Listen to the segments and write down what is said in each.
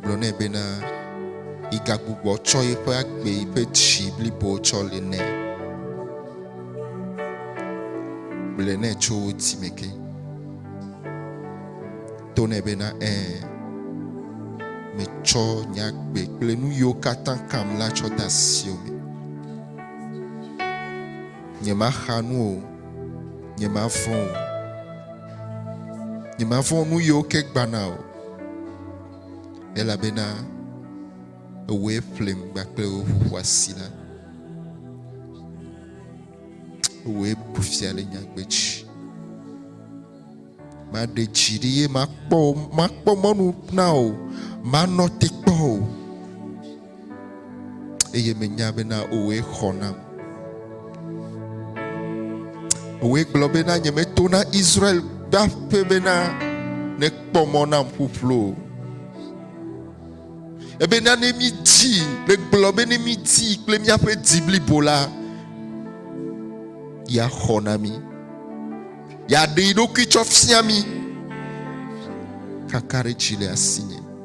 gblɔ nɛ bena, Yigagbugbɔ tsɔ yiƒe agbe yi ƒe dzi blibo tsɔ li nɛ. Gblɔe nɛ tso wò dzi me ke. To nɛ bena, Ẽ, metsɔ nye agbe kple nu yiwo katã kam la tsɔ de asiwò me. Nyemaxa nu o. nyemafɔ o. Nyemafɔ nu yiwo ke gbana o. Elabena ewɔe ƒlim kpakple wo ƒoƒu asi la. Ewɔe bu fia le nyagbe dzi. Maɖe dzi ɖi ye makpɔ makpɔ mɔnu na o. Manɔ te kpɔ o. eye menya bena òwoe xɔ nam. Òwoe gblɔ bena nyemeto na Israel ƒe aƒe bena nekpɔ mɔ nam ƒuƒlu o. Ebena ne mídi, negblɔ be ne mídi kple míaƒe di blibo la, yeaxɔ na mí. Yeaɖe yi ɖokui tsɔ fia mí. Kakaɖedzi le asinye.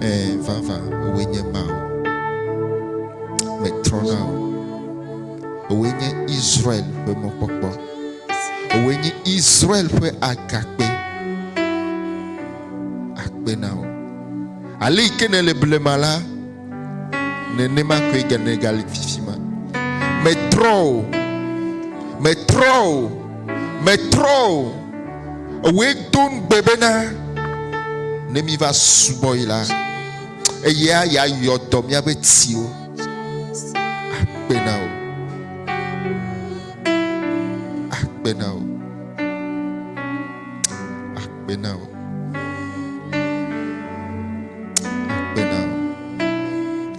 Ẽ, vavã, wòe nye Mawu. Metrɔ na wò. Wòe nye Israel ƒe mɔkpɔkpɔ. Wòe nye Israel ƒe agakpe. Akpe na wò. Ale yi ke nèle blema la, nenema koe gene gali fifi ma metrɔ o metrɔ o metrɔ o ewoe do ŋugbe bena ne mi va subɔ yi la eya ya yɔ dɔ miaƒe tiwo akpe na o akpe na o Akpe na wò. Akpe na wò.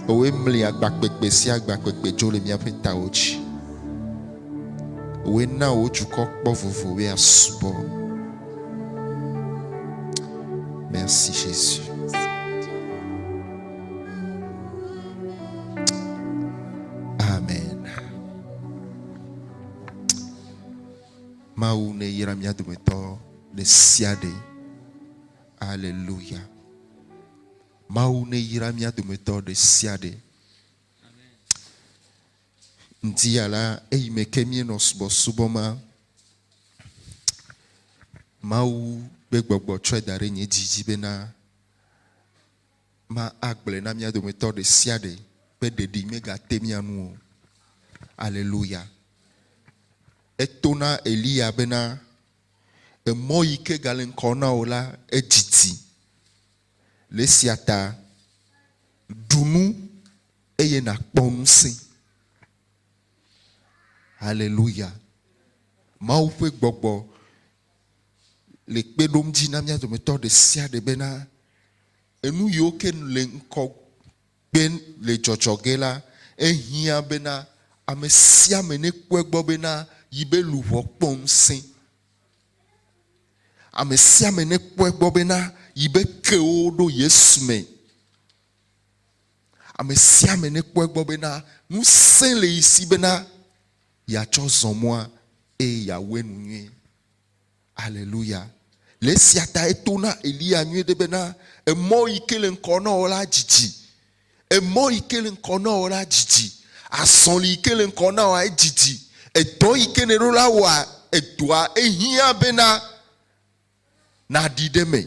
Wòe mli agbakpekpe sia agbakpekpe dzo le míaƒe tawo dzi. Wòe na wò dukɔ kpɔ vovo be asubɔ. Merci Jésus. Mawu neyra mía dometɔ ɖe sia ɖe. Aleluya. Mawu neyra mía dometɔ ɖe sia ɖe. Ŋdi ya la, eyi me ke míenɔ subɔsubɔ ma, Mawu ƒe gbɔgbɔ tsɔe da ɖe nye dzi dzi bena ma agblɔe na mía dometɔ ɖe sia ɖe be ɖeɖi megate mía ŋu o. Aleluya! Eto na Eliya bena, Emɔ yi ke gale ŋkɔ na wò la, edidi. Le esia ta, ɖu nu eye nàkpɔ ŋusẽ. Aleluya! Mawu ƒe gbɔgbɔ le kpe ɖom dzi na mía dometɔ ɖe sia ɖe bena enu yiwo ke le ŋgɔgbe le dzɔdzɔ ge la, ehiã bena ame sia ame nekpɔe gbɔ bena yi be luʋɔ kpɔ ŋusẽ. Ame sia ame nekpɔe gbɔ bena yi be kewo ɖo Yesu me. Ame sia ame nekpɔe gbɔ bena ŋusẽ le yi si bena. yeatsɔ zɔ mɔa eye yeawɔe nu nyuie. Aleluya! Le esia tae to na Eliya nyuie ɖe bena emɔ yi ke le ŋkɔ na wò la didi. Emɔ yi ke le ŋkɔ na wò la didi. Azɔli yi ke le ŋkɔ na wòa edidi. Edɔ yi ke nèɖo la wɔa edɔa ehiã bena nàɖi ɖe eme.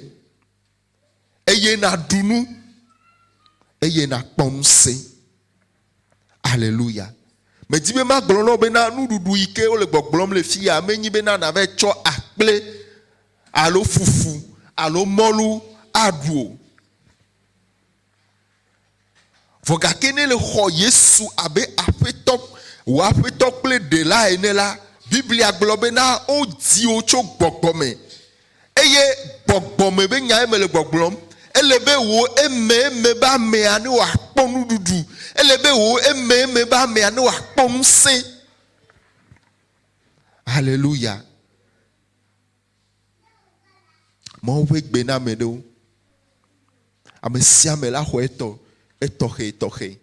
eye nàɖu nu, eye nàkpɔ ŋusẽ. Aleluya. Medi be magblɔ na wò bena nuɖuɖu yi ke wole gbɔgblɔm le fi ya menye bena nàva tsɔ akple alo fufu alo mɔlu aɖu o. Vɔ gake ne le xɔ Yesu abe aƒetɔ, wò aƒetɔ kple ɖela ene la, Biblia gblɔ be na wodzi wò tso gbɔgbɔ me. Eye gbɔgbɔ me be nyae mele gbɔgblɔm. Ele be wò ememe be amea ne wòakpɔ nuɖuɖu. Ele be wò ememe be amea ne wòakpɔ ŋusẽ. Haleluya. Mawu ƒe gbe na ame ɖewo. Ame sia ame la xɔ etɔ etɔxɛtɔxɛ.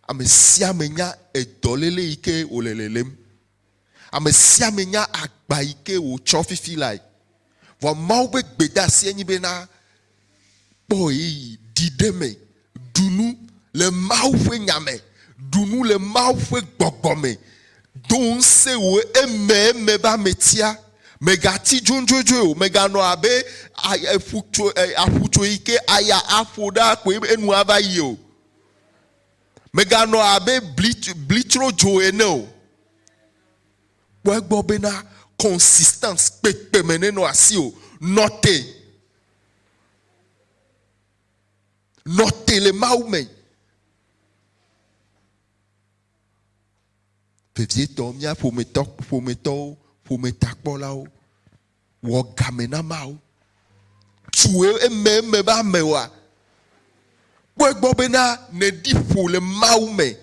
Ame sia ame nya edɔléle yi ke wòle lelém. Ame sia ame nya agba yi ke wòtsɔ fifi lae. Vɔ Mawu ƒe gbedeasie nye be na Kpɔ ɣeyiɣi, ɖi ɖe eme, ɖu nu le Mawu ƒe nya me, ɖu nu le Mawu ƒe gbɔgbɔ me, do ŋusẽ wò ememe be ame tia. Mègati dzodzodzoe o, mèganɔ abe aƒutso yi ke aya aƒo ɖa koe enu ava yi o. Mèganɔ abe blitsrodzo ene o. Kpɔ egbɔ bena consistance kpekpeme nenɔ asiwò. Nɔ te. Nɔ te le Mawu me. Vevietɔ, mía ƒometɔ, ƒometɔwo, ƒometakpɔlawo, wɔ game na Mawu. Tso eme eme be amewoa, kpɔ egbɔ bena nèɖi ƒo le Mawu me.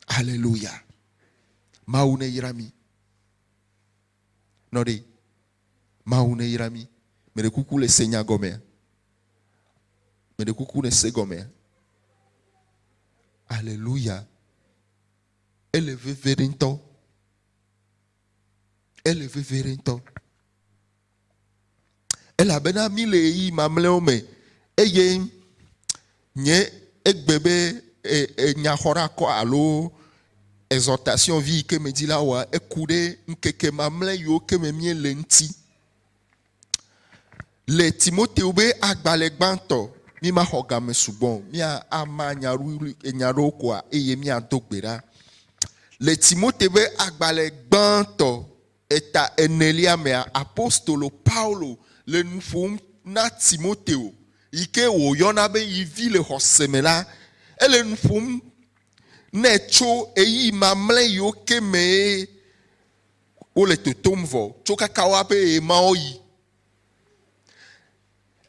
Haleluya. Mawu ne yra mi. Nɔ ɖe. Mawu ne yra mi. Me ɖe kuku le se nya gɔmea. Me ɖe kuku le se gɔmea. Haleluya. Ele veve ɖe ŋutɔ. Ele veve ɖe ŋutɔ. Elabena mí le ɣeyiɣi mamlɛwo me eye nye egbe be nyaxɔɖakɔ alo exhortation vi yi ke me dzi la wɔa eku ɖe ŋkeke mamlɛ yiwo ke me mí le ŋuti. Le Timoteo be agbalẽ gbãtɔ, mí ma xɔ game sugbɔ o. Mía ama nya ɖewo koa eye mía do gbe ɖa. Le Timoteo be agbalẽ gbãtɔ, Eta enelia mea, apostolo Paulo le nu ƒom na Timoteo yi ke wòyɔna be yi vi le xɔse me la. Ele nu ƒom nɛ tso ɣeyiɣi mamlɛ yiwo ke mee wole totom vɔ tso kaka woaƒe ɣemaɣɔɣi.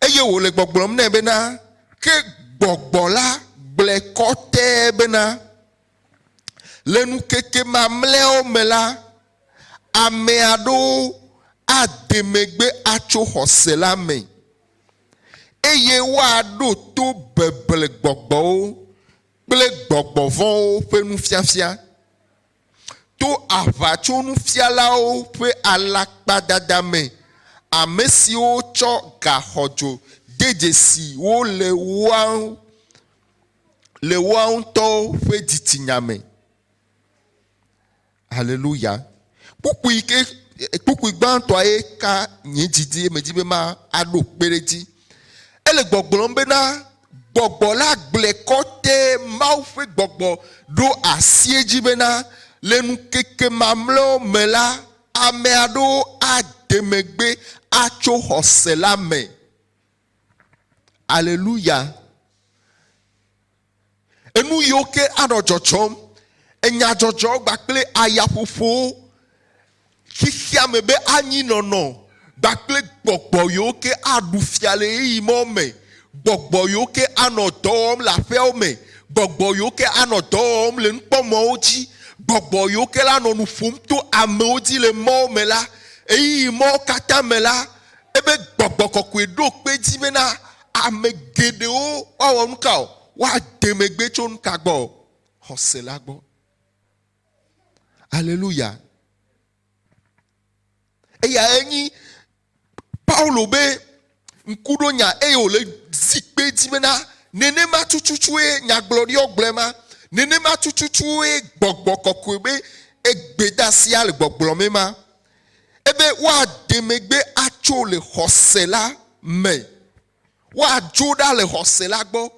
eye wòle gbɔgblɔm nɛ bena, Ke gbɔgbɔ la gblɔe kɔtɛ bena, Le ŋkeke mamlɛawo me la, ame aɖewo ade megbe atso xɔse la me, eye woaɖo to beble gbɔgbɔwo kple gbɔgbɔ vɔ̃wo ƒe nufiafia. To aʋatsonufialawo ƒe alakpadada me, ame siwo tsɔ ga xɔdzo de dzesi wo le woa ŋutɔwo ƒe dzitsinya me. Haleluya! Kpukpui ke, kpukpui gbãtɔa ye ka nye dzi dzi eye medi be maɖo kpe ɖe edzi. Ele gbɔgblɔm bena, Gbɔgbɔ la gblɔe kɔte, Mawu ƒe gbɔgbɔ ɖo asi edzi bena, le ŋkeke mamlɛawo me la, ame aɖewo ade megbe atso xɔse la me. Aleluya! Enu yiwo ke anɔ dzɔdzɔm, enyadzɔdzɔ kpakple ayaƒoƒowo Xexeame be anyi nɔnɔ gbakple gbɔgbɔ yiwo ke aɖu fia le ɣeyiɣi ma wo me, gbɔgbɔ yiwo ke anɔ dɔ wɔm le aƒeawo me, gbɔgbɔ yiwo ke anɔ dɔ wɔm le nukpɔmɔwo dzi, gbɔgbɔ yiwo ke la nɔ nu ƒom to amewo dzi le mɔwo me la, ɣeyiɣi ma wo katã me la, ebe Gbɔgbɔ Kɔkɔe ɖo kpe edzi bena ame geɖewo woawɔ nuka o? Woade megbe tso nuka gbɔ? Xɔse la gbɔ. Aleluya. Eya enyi Paulo be ŋku ɖo nya eye wòle zikpe dzi bena nenema tututuwoe nyagblɔɖiɔ gblɔe ma, nenema tututuwoe gbɔgbɔ kɔkɔe be egbedasia le gbɔgblɔ me ma, ebe woade megbe atso le xɔse la me, woadzo ɖa le xɔse la gbɔ.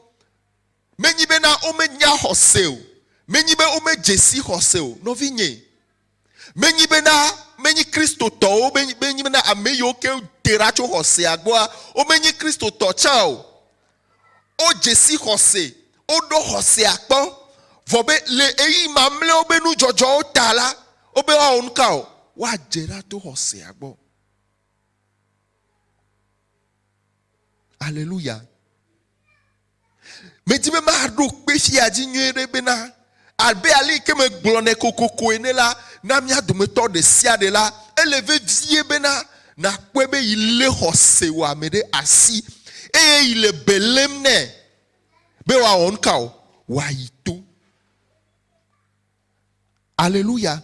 Menyi bena womenya xɔse o. Menyi be womedze si xɔse o. Nɔvinyee, menyi bena menyi Kristotɔwo, menyi bena ame yiwo ke wote ɖa tso xɔsea gbɔa, womenyi Kristotɔ tsã o. Wodze si xɔse. Woɖɔ xɔsea kpɔ. Vɔ be le ɣeyiɣi mamlɛawo be nudzɔdzɔwo ta la, wobe woawɔ nu ka o? Woadze ɖa to xɔsea gbɔ. Aleluya! Medi be maɖo kpe fia dzi nyuie ɖe bena, abe aleke megblɔ nɛ kokoko ene la, na mía dometɔ ɖe sia ɖe la, ele vevie bena nàkpɔe be yi lé xɔse wɔame ɖe asi eye yi le be lém nɛ be wòawɔ nuka o? Wòayi to. Aleluya!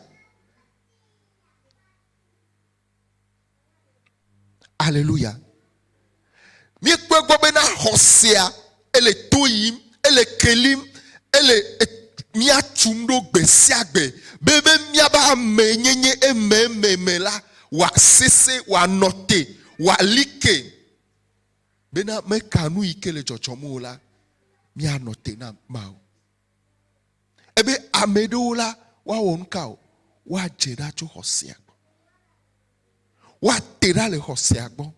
Aleluya. Míekpɔe gbɔ bena xɔsea ele to yim, ele kelim, ele mía tum ɖo gbe sia gbe be be míaba ame nyenye eme eme me la wòasese, wòanɔ te, wòali ke. Bena meka nu yi ke le dzɔdzɔm o la, míanɔ te na Mawu. Ebe ame ɖewo la, woawɔ nu ka o? Woadze ɖa tso xɔsea gbɔ. Woate ɖa le xɔsea gbɔ.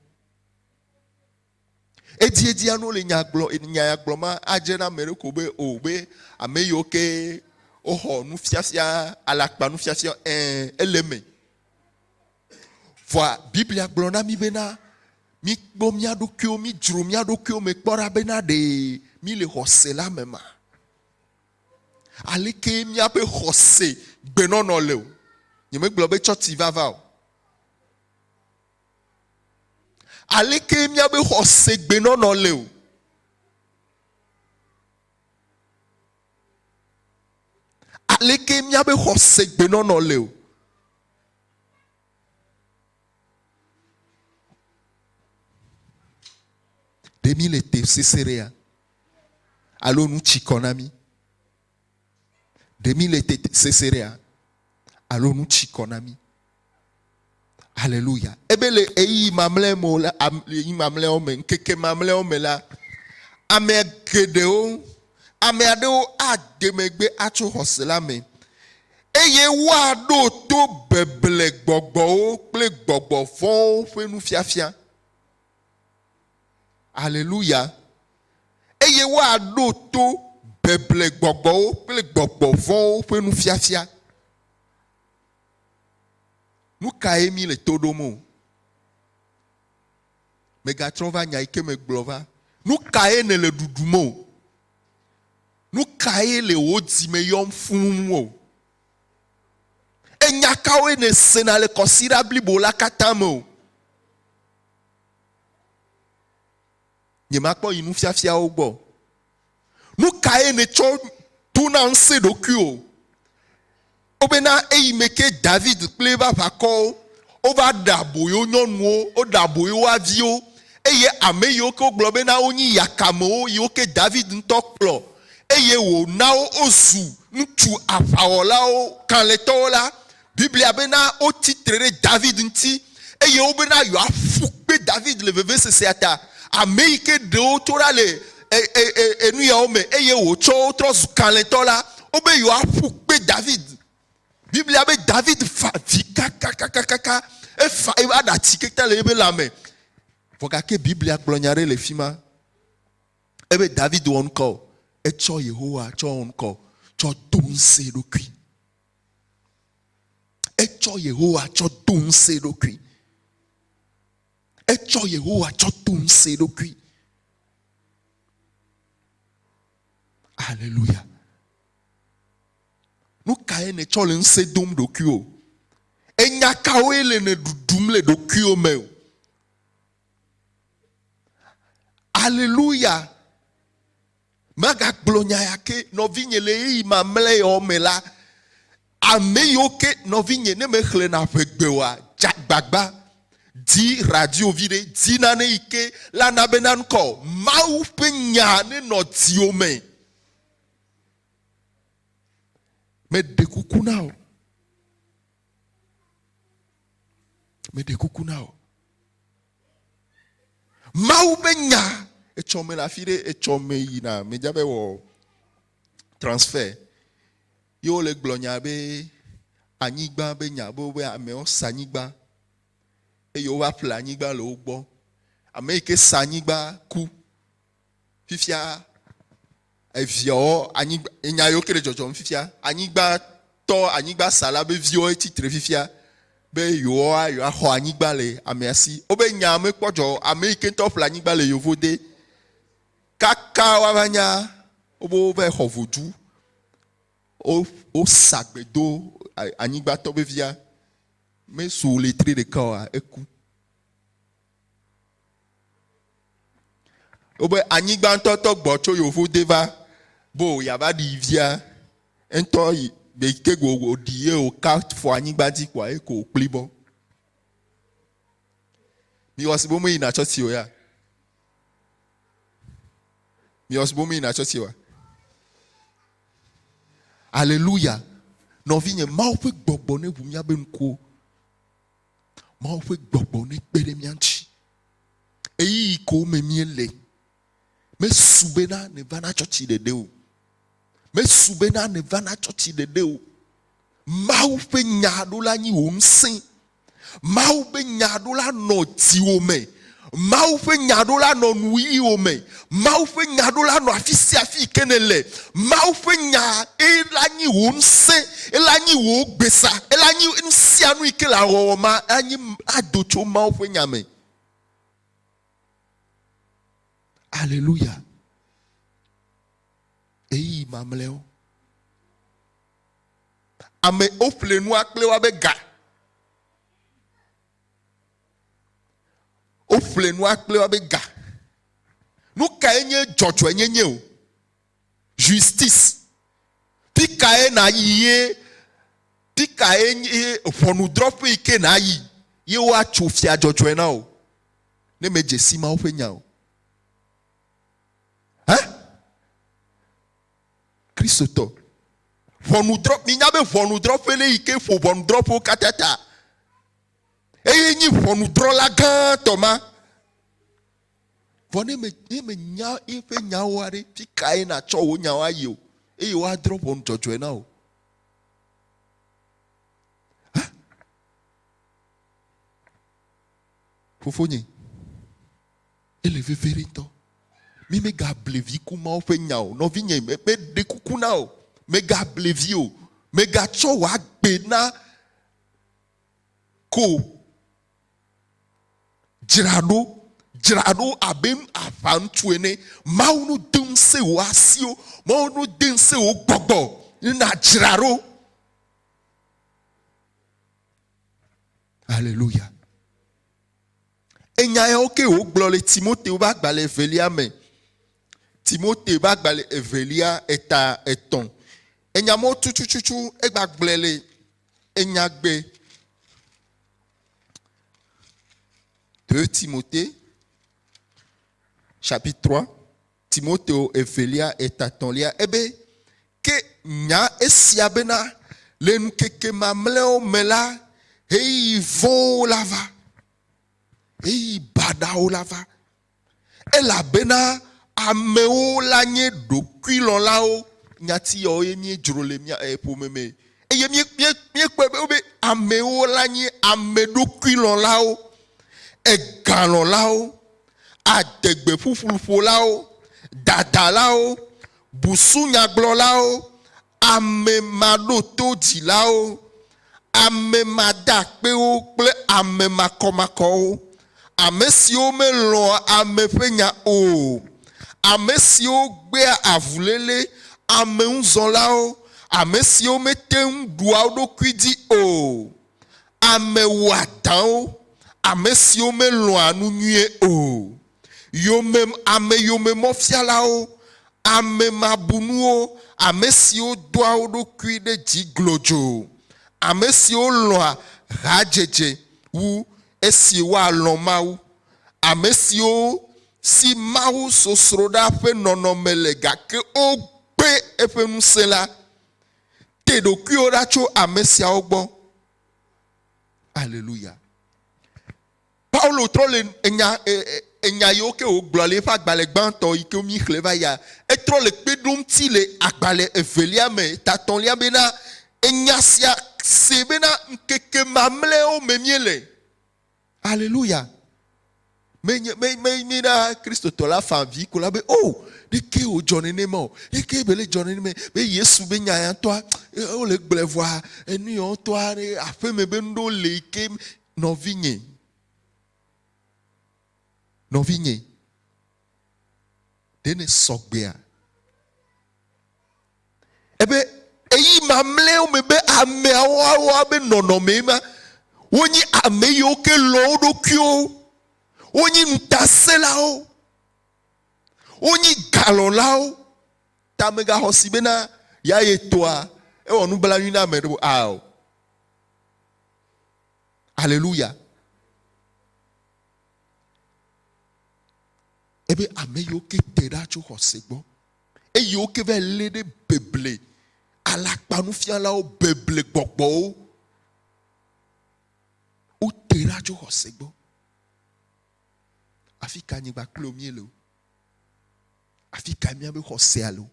Edziedzia no le nya gblɔ nya ya gblɔ ma adze na ame ɖe ko be o be ame yiwo ke woxɔ nufiafia alakpa nufiafia ɛ ele me. Vɔa Biblia gblɔ na mí bena míkpɔ mía ɖokuiwo, mídzro mía ɖokuiwo me kpɔ ɖa bena ɖe míle xɔse la me ma. Aleke míaƒe xɔse gbenɔnɔ le o. Nyemegblɔ be tsɔtsi vava o. Aleke míabe xɔse gbenɔnɔ le o. Aleke míabe xɔse gbenɔnɔ le o. ɖe mi le te seserea alo nu tsi kɔ na mi ɖe mi le te seserea alo nu tsi kɔ na mi haleluya ebe le eyi mamlɛa me la eyi mamlɛawo me ŋkeke mamlɛawo me la ame geɖewo Ame aɖewo ade megbe atso xɔse la me, eye woaɖo to beble gbɔgbɔwo kple gbɔgbɔ vɔ̃wo ƒe nufiafia. Aleluya! Eye woaɖo to beble gbɔgbɔwo kple gbɔgbɔ vɔ̃wo ƒe nufiafia. Nu kae míle to ɖom o? Mègatrɔ va nya yi ke megblɔ va. Nu kae nèle ɖuɖum o? Nu kae le wò dzi me yɔm fũu o? Enya kawoe nèsena le kɔsiɖa blibo la katã me o? Nyemakpɔ yi nufiafiawo gbɔ o. Nukae nètsɔ dona ŋusẽ ɖokuiwò bena eyi me ke David kple eƒe aʋakɔwo wova ɖe aboyo nyɔnuwo, woɖe aboyo woa viwo, eye ame yiwo ke wogblɔ bena wonyi yakamewo yiwo ke David ŋutɔ kplɔ eye wòna wo wozu ŋutsu aʋawɔlawo kalẽtɔwo la Biblia bena wotsi tre ɖe David ŋuti eye wobena yewoaƒu kpe David le vevesesea ta, ame yi ke ɖe wo tso ɖa le enuyawo me eye wòtsɔ wo trɔ zu kalẽtɔ la. Wobe yewoaƒu kpe David. Biblia be David fa avi kakakakaka, efa eƒe aɖatsi keŋkeŋ le eƒe lãme. Vɔ gake Biblia gblɔ nya aɖe le fi ma. Ebe David wɔ ŋkɔ o, etsɔ Yehowa tsɔ wɔ ŋkɔ, tsɔ do ŋusẽ eɖokui. Etsɔ Yehowa tsɔ do ŋusẽ eɖokui. Etsɔ Yehowa tsɔ do ŋusẽ eɖokui. Aleluya. Nu kae nètsɔ le ŋusẽ dom ɖokuiwò? Enya kawoe le nèɖuɖum le ɖokuiwò me o? Aleluya. Magagblɔ nya ya ke nɔvinye le ɣeyiɣi mamlɛawo me la, ame yiwo ke nɔvinye ne mexlẽna ƒe gbe oa, dze agbagba di radio viɖe, di nane yi ke la na be nankɔ Mawu ƒe nya ne nɔ dziwò me. Meɖe kuku na wò. Meɖe kuku na o. Mawu be nya etsɔ me le afi ɖe etsɔ me yina medza be wɔ transfer ye wole gblɔ nya be anyigba be nya be wobe amewo sa anyigba eye wova ƒle anyigba le wo gbɔ ame yi ke sa anyigba ku fifia eviawo anyigba enya yiwo ke le dzɔdzɔm fifia anyigba tɔ anyigba sala be viwo tsi tre fifia be yewoa yewoaxɔ anyigba le amea si wobe nya mekpɔ dzɔ ame yi ke ŋutɔ ƒle anyigba le yevo de kaka woava nya wobe wova xɔ vodu wo wosa gbe do anyigbatɔ vevia mesu letri ɖeka oa eku Wobe anyigbãtɔtɔ gbɔ tso yovo de va bo yava ɖi via ŋutɔ yi be ke go wòɖi ye wòka fɔ anyigba dzi kɔa ye ko wòkpli bɔ. Miwɔ si bom yina tsɔ si o ya. Miwɔ si bom yina tsɔ si wa. Aleluya. Nɔvinye, Mawu ƒe gbɔgbɔ ne ŋu míabe ŋkuwo. Mawu ƒe gbɔgbɔ nekpe ɖe mía ŋuti. Ɣeyiɣi ko me míele. Mesu bena nèvana tsɔtsi ɖeɖe o. Mesu bena nèvana tsɔtsi ɖeɖe o. Mawu ƒe nya ɖo la nyi wò ŋusẽ. Mawu ƒe nya ɖo la nɔ dziwò me. Mawu ƒe nya ɖo la nɔ nuwuɣiwo me. Mawu ƒe nya ɖo la nɔ afi sia afi yi ke nèle. Mawu ƒe nya ela nyi wò ŋusẽ, ela nyi wò gbesa, ela nyi nu sia nu yi ke le awɔwɔ ma anyi ado tso Mawu ƒe nya me. Aleluya. Eyi mamlɛwo. Ame woƒle nua kple woa be ga. Woƒle nua kple woabe ga. Nu kae nye dzɔdzɔenyenye o? Justice. Fi kae nàyi ye fi kae nye ʋɔnudrɔ̃ƒe yi ke nàyi ye woatso fia dzɔdzɔe na wò ne medze si Mawu ƒe nya o? Hã? Kristotɔ. Ʋɔnudrɔ̃, minya be ʋɔnudrɔ̃ƒe le yi ke ƒo ʋɔnudrɔ̃ƒewo katã ta. eye nyi ʋɔnudrɔla gãtɔ ma. Vɔ ne me ne menya eƒe nyawo aɖe, fi kae natsɔ wò nyawo ayi o eye woadrɔ ʋɔnu dzɔdzɔe na wò? Fofonye, ele veve ɖe ŋutɔ. Mi megable vi ku mawo ƒe nya o. Nɔvinye, meɖe kuku na o. Megable vi o. Megatsɔ wò agbe na ko. Dzra ɖo, dzra ɖo abe aʋaŋutsu ene. Mawu nu de ŋusẽ wò asiwo. Mawu nu de ŋusẽ wò gbɔgbɔ ne nàdzra ɖo. Aleluya. Enya yawo ke wògblɔ le Timoteo ƒe agbalẽ evelia me. Timoteo ƒe agbalẽ evelia eta etɔ̃. Enya mɔ tutututu egbagblɔe le enyagbe de Timoteo chapitre 3. Timoteo evelia etatɔ̃lia ebe, Ke nya esia bena, le ŋkeke mamlɛawo me la, ɣeyiɣi vɔ̃wo la va, ɣeyiɣi baɖawo la va, elabena amewo la nye ɖokuilɔ̃lawo, nyati yawo ye míedzro le mía ƒome me eye míekpɔe be be amewo la nye ameɖokuilɔ̃lawo, egalɔ̃lawo, adegbefufluƒolawo, dadalawo, busunyagblɔlawo, amemaɖotodzilawo, amemadakpewo kple amemakɔmakɔwo, amesiwo melɔ̃a ame ƒe nya o, amesiwo gbea avuléle, ameŋuzɔlawo, amesiwo mete ŋu ɖua wo ɖokui dzi o. Ame wɔadãwo, ame siwo melɔ̃a nu nyuie o, yomem ame yomemɔfialawo, ame mabunuwo, ame siwo doa wo ɖokui ɖe dzi glodzo, ame siwo lɔ̃a hadzedze wu esi woalɔ̃ Mawu, ame siwo si Mawu sosroɖa ƒe nɔnɔme le gake wogbe eƒe ŋusẽ la, Te ɖokuiwò ɖa tso ame siawo gbɔ. Aleluya. Paulo trɔ le enya enya yiwo ke wògblɔ le eƒe agbalẽ gbãtɔ yi ke mi xlẽ va ya. Etrɔ le kpe ɖom ti le agbalẽ evelia me tatɔ̃lia bena enya sia se bena ŋkeke mamlɛwo me míele. Aleluya. Menye me me me na Kristotɔ la fa vi ko la be o oh, ɖeke o dzɔ nene ma o. Ɖeke bele dzɔ nene me be Yesu be nya ya tɔa eh, o le gblɛ vɔa enu ya tɔa ne aƒe me be ndo le ke nɔvi nye. Nɔvi nye. Ɖe ne sɔgbea? Ebe eyi mamlɛwo me be ameawoawoa be nɔnɔme ma, wonye ame yiwo ke lɔ wo ɖokuiwo, wonye ŋutasẽlawo, wonye galɔlawo, ta megaxɔsi bena ya yetɔa ewɔ nublanui na ame ɖo ao. Aleluya. Ebe ame yiwo ke te ɖa tso xɔse gbɔ, eye wo ke va lé ɖe beble alakpanufialawo, beble gbɔgbɔwo. Wote ɖa tso xɔse gbɔ. Afi ka nyigba kpli wo míele o? Afi ka míabe xɔsea le o?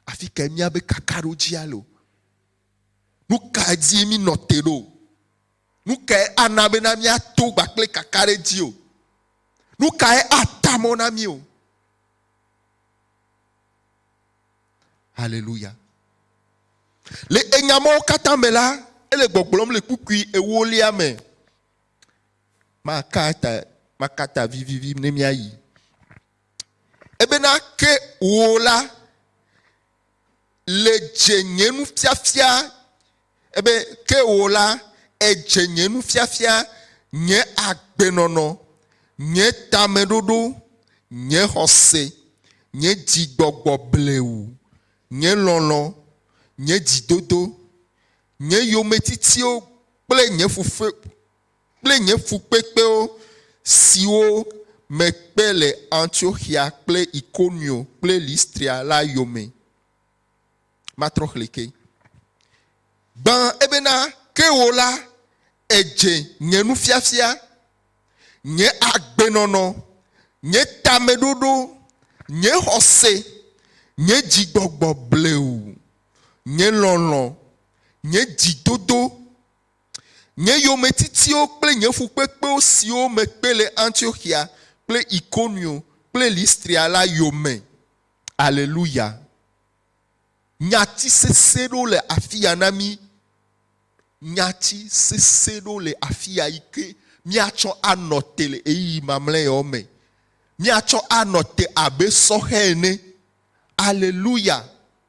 Afi ka míabe kakaɖodzia le o? Nu ka dzi mi nɔ te ɖo? Nu kae ana bena míato gba kple kakaɖedzi o? Nu kae ata mɔ na mí o? Haleluya. Le enya mawo katã me la, ele gbɔgblɔm le kpukpui ewolia me. Maka ta, maka ta vivivi ne míayi. Ebena ke wò la, le dze nye nufiafia ebe ke wò la èdze nye nufiafia nye agbenɔnɔ nye tameɖoɖo nye xɔse nye dzigbɔgbɔ bleu nye lɔlɔ̃ nye dzidodo nye yometitío kple nye fufue kple nye fukpekpewo siwo mekpe le Antioxia kple Ikonio kple Listria la yome. Matrɔ xlẽ ke. Gbã ebena, Ke wò la, èdze nye nufiafia, nye agbenɔnɔ, nye tameɖoɖo, nye xɔse, nye dzigbɔgbɔ bleu, nye lɔlɔ̃, nye dzidodo, Nye yometitiwo kple nye fukpekpewo siwo mekpe le Antioxia kple Ikonio kple Listria la yome. Aleluya! Nyati sesẽ ɖewo le afia na mí. Nyati sesẽ ɖewo le afia yi ke míatsɔ anɔ te le ɣeyiɣi mamlɛawo me. Míatsɔ anɔ te abe sɔhɛ ene. Aleluya!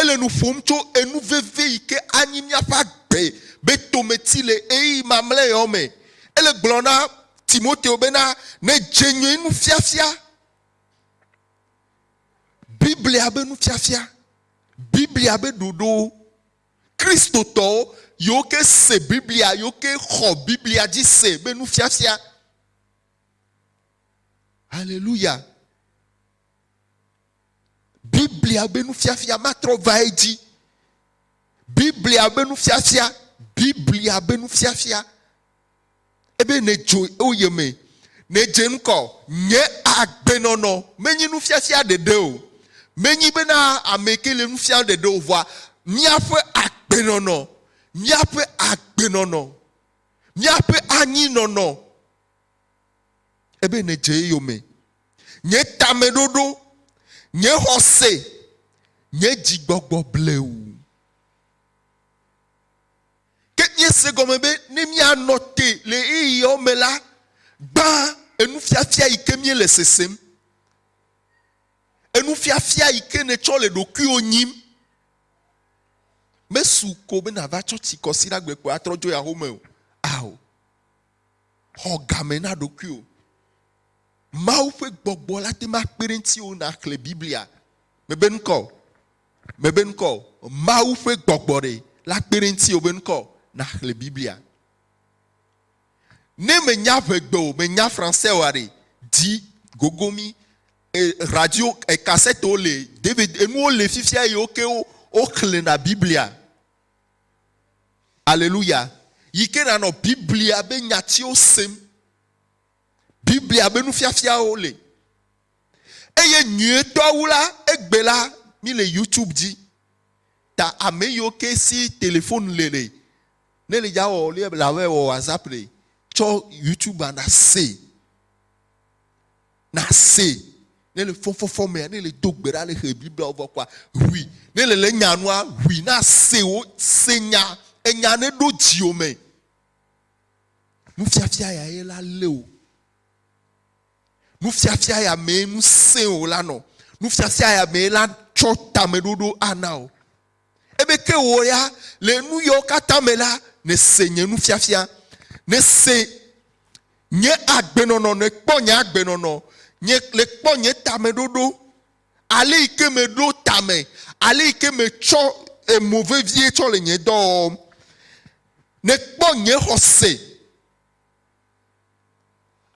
Ele nu ƒom tso enu vevie yi ke anyi míaƒe agbe be tometi le ɣeyiɣi mamlɛ yawo me. Ele gblɔm na Timoteo bena, Nedze nyuie nufiafia, Biblia be nufiafia, Biblia be ɖoɖowo. Kristotɔwo, yewo ke se Biblia, yewo ke xɔ Biblia dzi se be nufiafia. Aleluya! Biblia be nufiafia matrɔ va edzi. Biblia be nufiafia, Biblia be nufiafia. Ebe nèdzo wo yome, nèdze ŋkɔ. Nye agbenɔnɔ menye nufiafia ɖeɖe o. Menye bena ame ke le nufia ɖeɖe o vɔa míaƒe agbenɔnɔ, míaƒe agbenɔnɔ, míaƒe anyinɔnɔ Ebe nèdze eyome. Nye tameɖoɖo, nye xɔse, nye dzigbɔgbɔ blewu. Ke míese gɔme be ne míanɔ te le ɣeyiɣiawo me la, gbã enufiafia yi ke míele sesem, enufiafia yi ke nètsɔ le ɖokuiwò nyim. Mesu ko be nàva tsɔ tsikɔsiɖagbekpoa atrɔ dzo yi ahome o. Ao. xɔ game na ɖokuiwò. Mawu ƒe gbɔgbɔ la te ŋu akpe ɖe ŋutiwò nàxlẽ Biblia. Mebe ŋkɔ o. Mebe ŋkɔ o. Mawu ƒe gbɔgbɔ ɖe la kpe ɖe ŋutiwò be ŋkɔ nàxlẽ Biblia. Ne mènya ŋegbe o, mènya Fransɛ oa ɖe, di gogo mí. E, radio, e, kasɛtewo le, David, enuwo le fifia eye woke woxlẽna Biblia. Aleluya! Yi ke nànɔ Biblia be nyatiwo sem. Biblia be nufiafiawo li. Eye nyuietɔ wu la, egbe la, míle YouTube dzi. Ta ame yiwo ke si telefon le le, ne le dza wɔ lia la wɔ WhatsApp le tsɔ YouTube-a na se. nasee ne le fɔfɔfɔ mea ne le do gbe ɖa ne xe bibliawo vɔ kɔa ʋui ne le le nya nua ʋui na se wo se nya enya ne ɖo dziwo me nufiafia ya ye la le o nufiafia ya me nu se o la nɔ nufiafia ya me la tsɔ tameɖoɖo ana o Ebe ke wò ya, le nu yawo katã me la, nèse nye nufiafia. Nèse nye agbenɔnɔ, nèkpɔ nye agbenɔnɔ, nye, nèkpɔ nye tameɖoɖo, ale yi ke meɖo tame, ale yi ke metsɔ emo vevie tsɔ le nye dɔwɔwɔm. Nèkpɔ nye xɔse.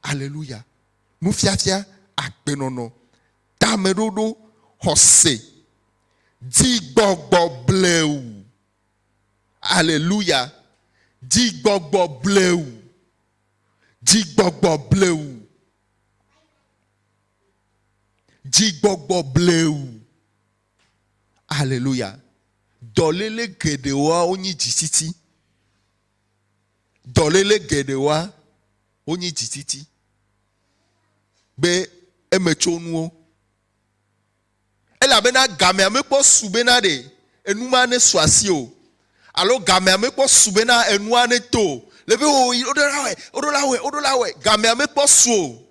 Aleluya. Nufiafia, agbenɔnɔ, tameɖoɖo, xɔse, dzigbɔgbɔ bleu. Aleluya. Dzigbɔgbɔ bleu. Dzigbɔgbɔ bleu. Dzigbɔgbɔ bleu. Aleluya. Dɔléle geɖewoa wonyi dzitsitsi. dɔléle geɖewoa wonyi dzitsitsi be emetsonuwo. Elabena gamea mekpɔ su bena ɖe enu ma nesu asi o alo gamea mekpɔ su bena enua neto o. Le be o yi woɖo la wɔe, woɖo la wɔe, woɖo la wɔe. Gamea mekpɔ su o.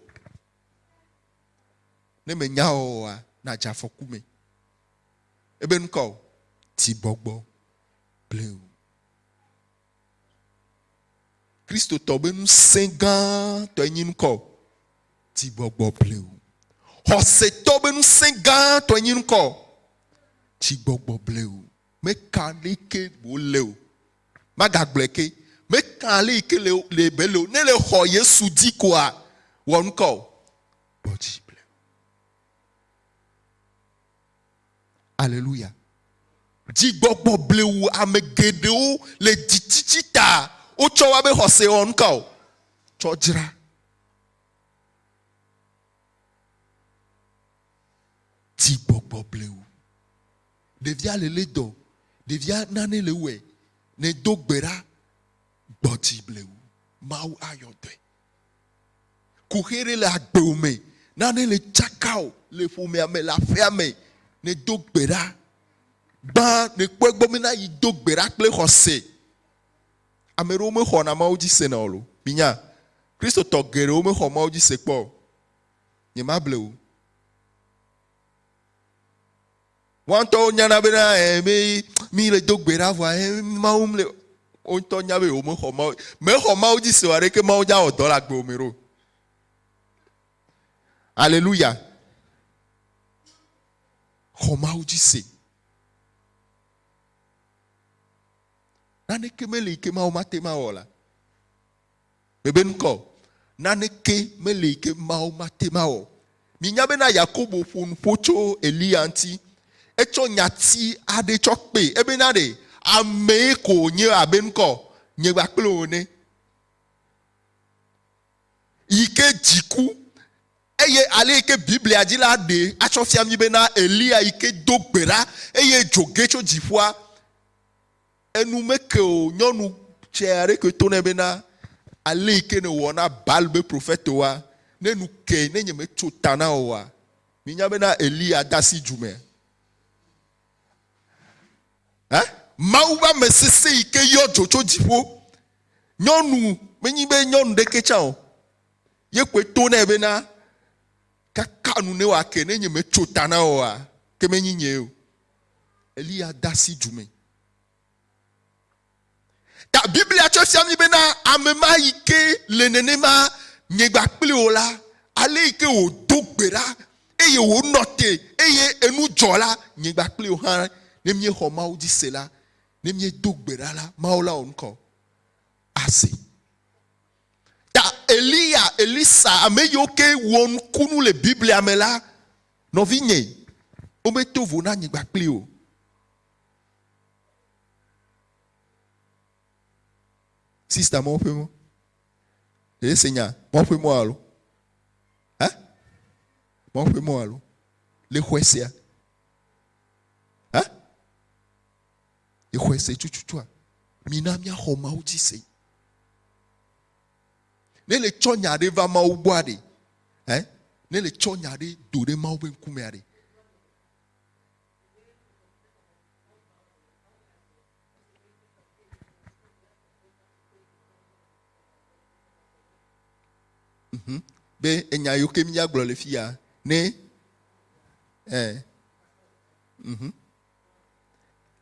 Ne mènya oa, nàdze afɔku me. Ebe nu ka o? Dzigbɔgbɔ blewu. Kristotɔ be ŋusẽ gãtɔe nyi ŋkɔ o, ti gbɔgbɔ bleu. Xɔsetɔ be ŋusẽ gãtɔe nyi ŋkɔ o, ti gbɔgbɔ bleu. Meka ɖe ke wòle o. Magagblɔe ke. Meka ale yi ke le le be le o. Ne le xɔ Yesu dzi koa, wɔ ŋkɔ o. Gbɔ dzi bleu. Aleluya! Dzigbɔgbɔ blewu ame geɖewo le dzitsitsi ta wotsɔ wa be xɔse wɔ nuka o? Tsɔ dzra. Dzigbɔgbɔ blewu. Ɖevia le lé dɔ, ɖevia nane le wɔe, ne do gbe ɖa, gbɔdzi blewu, Mawu ayɔ dɔe. Kuxi ɖe le agbewò me, nane le tsaka o le ƒomea me, le aƒea me, nèdo gbe ɖa. Gbã nèkpɔ egbɔ be na yi do gbe ɖa kple xɔse. Ame ɖewo mexɔna Mawu dzi sena o lo. Minya? Kristotɔ geɖewo mexɔ Mawu dzi se kpɔ o. Nyemable o. Woa ŋutɔwo nyana be na eh, be mi le do gbe ɖa vɔa eh, Mawu le wo ŋutɔ nya be womexɔ Mawu mexɔ Mawu dzi se o aɖeke Mawu dza wɔ dɔ le agbewo me ɖo. Aleluya. Xɔ Mawu dzi se. Naneke meli ke Mawu mate ma wɔ la. Mebenuka o. Naneke meli yi ke Mawu mate ŋu awɔ. Minya bena Yakobo ƒo nu ƒo tso Eliya ŋuti. Etsɔ nyati aɖee tsɔ kpee. Ebena ɖe amee ko wònye abenuka o, nye kpakple wò ene. Yi ke dziku eye ale yi ke Biblia dzi la ɖee atsɔ fia mí bena Eliya yi ke do gbe ɖa eye dzo ge tso dziƒoa. Enu meke o, nyɔnu tsɛ aɖe koe to nɛ bena, Ale yi ke nèwɔ na Baal ƒe profetowoa, ne nu kee, ne nyemetso ta na wò oa, mìnya bena Eliya de asi dzu me. Ẽ? Mawu ƒe ame sesẽ yi ke yɔ dzo tso dziƒo. Nyɔnu, menye be nyɔnu ɖekee tsã o, ye koe to nɛ bena, Kaka nu ne wòake, ne nyemetso ta na wò oa, ke menye nyee o. Eliya de asi du me. Ta Biblia tsɔ fia mi bena ame ma yi ke le nenema nyegba kpli o la, ale yi ke wòdo gbe ɖa eye wònɔ te eye enu dzɔ la, nyegba kpli o hã ne míexɔ Mawu dzi se la, ne míedo gbe ɖa la, Mawu la wɔ nukɔ ase. Ta Eliya, Elisa, ame yiwo ke wɔ nukunu le Biblia me la, Nɔvinye, wometo vo na nyigba kpli o. Sista mɔ ƒe mɔ. Ɖe se nya mɔ ƒe mɔ alo? Ha? Mɔ ƒe mɔ alo? Le xɔe sea? Ha? Le xɔe se tututua? Mina miaxɔ Mawu dzi se. Ne le tsɔ nya ɖe va Mawu gbɔ aɖe, eh, ne le tsɔ nya ɖe do ɖe Mawu be ŋkume aɖe. Mhm. Be enya yiwo ke mía gblɔ le fia, ne, eh, mhm.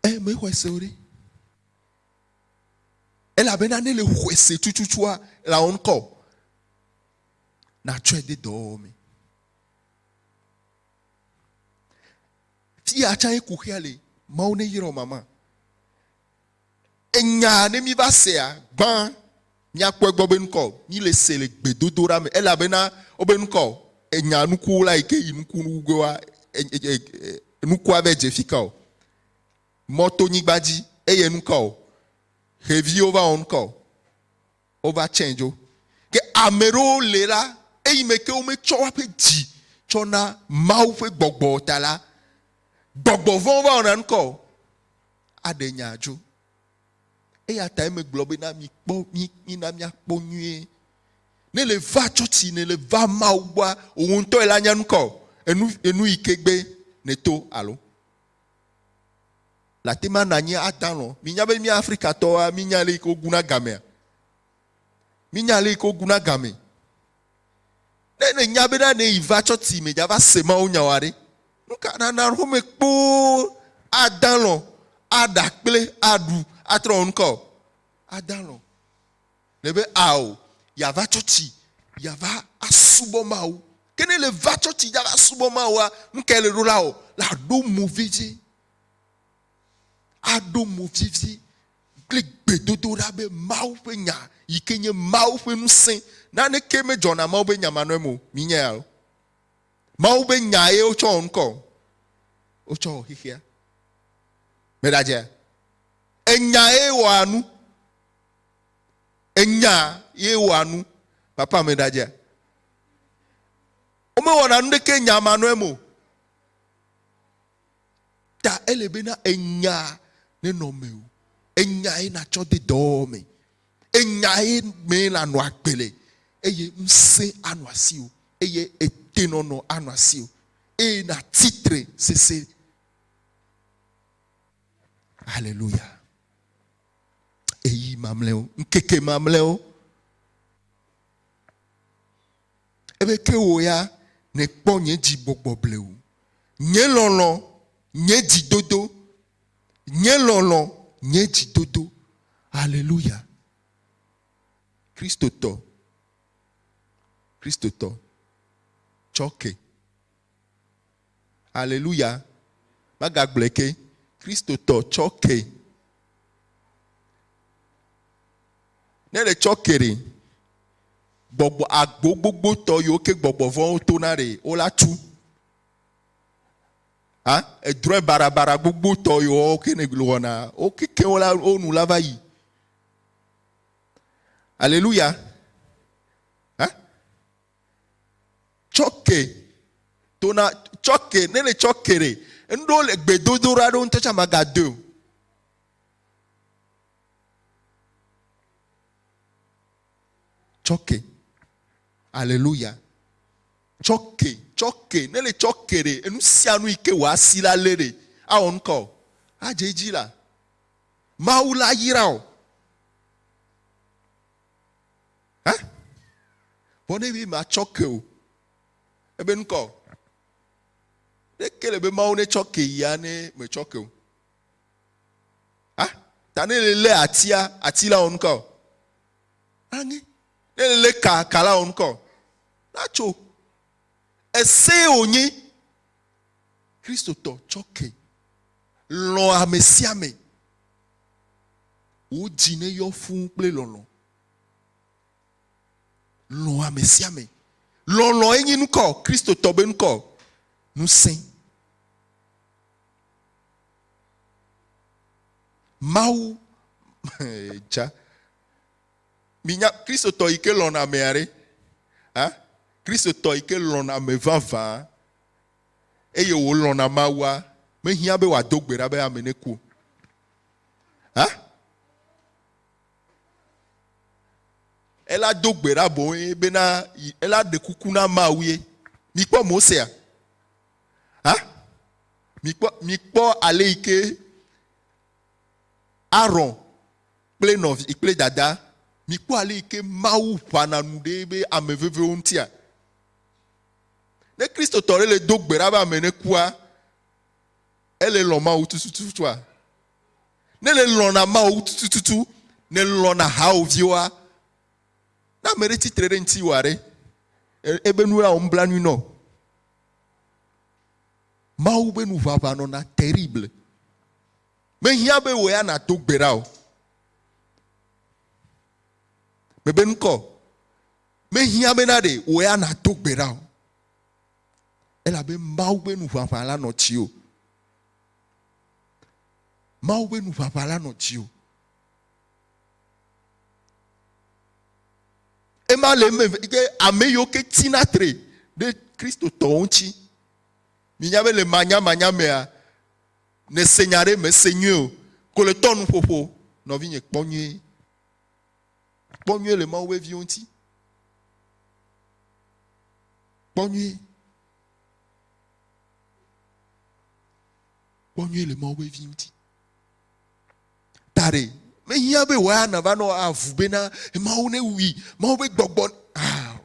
Eh, me xɔ se o ɖe. Elabena ne nèxɔe se tututua, lãwo ŋkɔ o, nàtsɔe de dɔwɔwɔ mee. Fiya tsãe kuxia le, Mawu neyra mama. Enyaa ne míva sea, gbã míakpɔ egbɔ be ŋkɔ o, míle se le gbedodoɖa me, elabena wobe ŋkɔ o, enya nukuwo la yi ke yi nuku nukugewoa, nukua ve dze fika o. mɔ to nyigba dzi eye nuka o, xeviwo va wɔ nuka o, wova tsɛ dzo. Ke ame ɖewo le la, eyi me ke wometsɔ woaƒe dzi tsɔ na Mawu ƒe gbɔgbɔ o ta la, gbɔgbɔ vɔ̃wo va wɔna nuka o, aɖe nya dzo. Eya tae megblɔ be na mikpɔ, mi, mina míakpɔ nyuie. Ne le va tsɔtsi, ne le va Mawu gbɔa, wò ŋutɔ ela nya nuka o, enu, enu yi ke gbe nèto alo. Le ate ma nanyi adalɔ. Minya be mi Afrikatɔwoa, minya le yi ke woguna gamea? Minya le yi ke woguna game. Ne nènya be na ne yi va tsɔ ti me dzava se mawo nyawa ɖe, nu ka nana home kpoo adalɔ, aɖa kple aɖu atrɔ wɔ nu ka o? Adalɔ. Ne be ao, yeava tsɔtsi yeava asubɔ Mawu. Ke ne le va tsɔtsi dza va subɔ Mawua, nu kae le ɖo la wɔ? La aɖo mo vevie. Aɖo mo vevie kple gbedodoɖa be Mawu ƒe nya yi ke nye Mawu ƒe ŋusẽ. Naneke medzɔ na Mawu ƒe nyamanɔe me o. Minyae alo? Mawu ƒe nya ye wotsɔ wɔ nukɔ. Wotsɔ wɔ xexea. Meɖadzea? Enya ye wɔa nu. Enya ye wɔa nu. Papa me ɖadze. Womewɔna nu ɖeke nya ma nɔe mo. Ta ele be na enya nenɔ mewò. Enya ye natsɔ de dɔwɔwɔ me. Enya ye me nanɔ agbe le eye ŋusẽ anɔ asiwò eye etenɔnɔ anɔ asiwò eye natsi tre sese. Haleluya. Eyi mamlɛwo, ŋkeke mamlɛwo. Ebe ke wò ya nèkpɔ nye dzi gbɔgbɔ blewu, nye lɔlɔ̃, nye dzi dodo, nye lɔlɔ̃, nye dzi dodo. Aleluya. Kristotɔ, Kristotɔ, tsɔ ke. Aleluya! Magagblɔe ke, Kristotɔ tsɔ ke. Ne ɖe tsɔ ke ɖe, gbɔgbɔ agbo gbogbo tɔ yiwo ke gbɔgbɔ vɔ̃wo to na ɖe wo la tu. Ha edrɔe barabara gbogbo tɔ yiwo ke ne wɔna wo keke wo la wo nu la va yi. Aleluya! tsɔke tona tsɔke ne le tsɔke ɖe enuɖewo le gbedodoɖa ɖewo ŋutɔ tsɛ magadoe o tsɔke aleluya tsɔke tsɔke ne le tsɔke ɖe enu sia nu yi ke wòasi la lé ɖe awɔ nu ka o adze edzi la mawu la yra o Hã? Vɔ ne mi matsɔ ke o. Ebe nukɔ. Ne ke le be mawo ne tsɔ ke ya ne me tsɔ ke o. Hã? Ta ne le le atia, ati la wɔn kɔ. Anyi. Ne le le ka, ka la wɔn kɔ. Na tso. Ese o nyi. Kristo tɔ tsɔ ke. Lɔ amesia me. Wò dzi neyɔ fũu kple lɔlɔ̃. Lɔ̃ ame sia ame. Lɔlɔ̃e nye nukɔ, Kristotɔ be nukɔ, ŋusẽ. Mawu, dza, minya Kristotɔ yi ke lɔ̃na amea ɖe? Hã? Kristotɔ yi ke lɔ̃na ame vavã. eye wòlɔ̃na Mawua, mehiã be wòado gbe ɖa be ame neku o. Hã? Ela do gbe ɖa boŋue bena ela ɖe kuku na Mawue. Mikpɔ Mosea? Hã? Mikpɔ, mikpɔ ale yi ke Aron kple nɔvi kple dada, mikpɔ ale yi ke Mawu ʋãna nu ɖe be ame vevewo ŋutia. Ne Kristotɔ ɖe le do gbe ɖa be ame nekua, ele lɔ̃ Mawu tutututua? Ne le lɔ̃na Mawu tutututu, ne lɔ̃na hawòviwoa, ne ame ɖe tsitre ɖe ŋuti wòa ɖe, ebe nu la wɔ nublanui nɔ. Mawu be nu ʋaʋã nɔna terrible. Mehiã be wò ya nàdo gbe ɖa o. Mebe ŋkɔ. Mehiã bena ɖe wò ya nàdo gbe ɖa o. Elabe Mawu ƒe nuʋaʋã la nɔ dziwò. Mawu ƒe nuʋaʋã la nɔ dziwò. Ema le eme ke ame yiwo ke tina tre ɖe Kristotɔwo ŋuti. Minya be le manyamanya mea, nèse nya ɖe mèse nyuie o. Ko le tɔ nuƒoƒo, nɔvinye kpɔ nyuie. Kpɔ nyuie le Mawu ƒe viwo ŋuti. Kpɔ nyuie. Kpɔ nyuie le Mawu ƒe vi ŋuti. Da ɖe mehiã be wòaya nava nɔ avu bena Mawu ne wui, Mawu be gbɔgbɔ. Ah.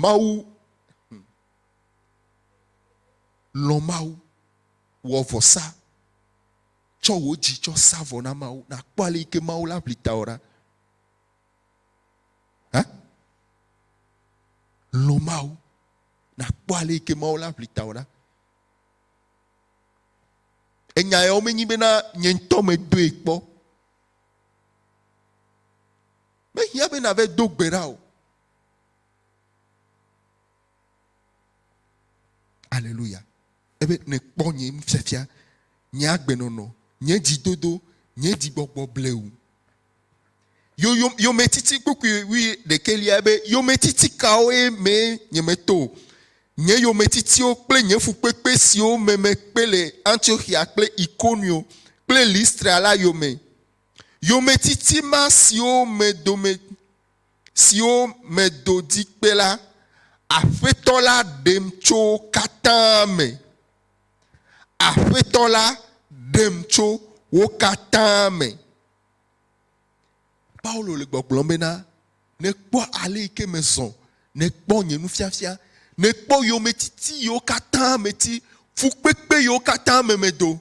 Mawu lɔ Mawu wɔ vɔsa Tsɔ wò dzi tsɔ sa vɔ na Mawu nàkpɔ ale yi ke Mawu la ʋli tawò ɖa. Hã? Lɔ̃ Mawu nàkpɔ ale yi ke Mawu la ʋli tawò ɖa. Enya yawo menyi bena nye ŋutɔ medoe kpɔ. Mehiã be nàve do gbe ɖa o. Aleluya. ebe nèkpɔ nye nufiafia, nye agbenɔnɔ, nye dzidodo, nye dzigbɔgbɔ blewu. Yo, yo, yometiti kpukpui wuiɖekɛlia ebe yometiti kawoe mee nyemeto o. Nye yometitiwo kple nye fukpekpe siwo me mekpe le Antioxia kple Ikonio kple Listra la yome. Yometiti ma siwo me dome siwo medo di kpe la, Aƒetɔ la ɖem tso wo katã me. Aƒetɔ la ɖem tso wo katã me. Paulo le gbɔgblɔm bena, Nekpɔ ale yi ke mezɔ, nekpɔ nye nufiafia, nekpɔ yometiti yiwo katã meti, fukpekpe yiwo katã me medo.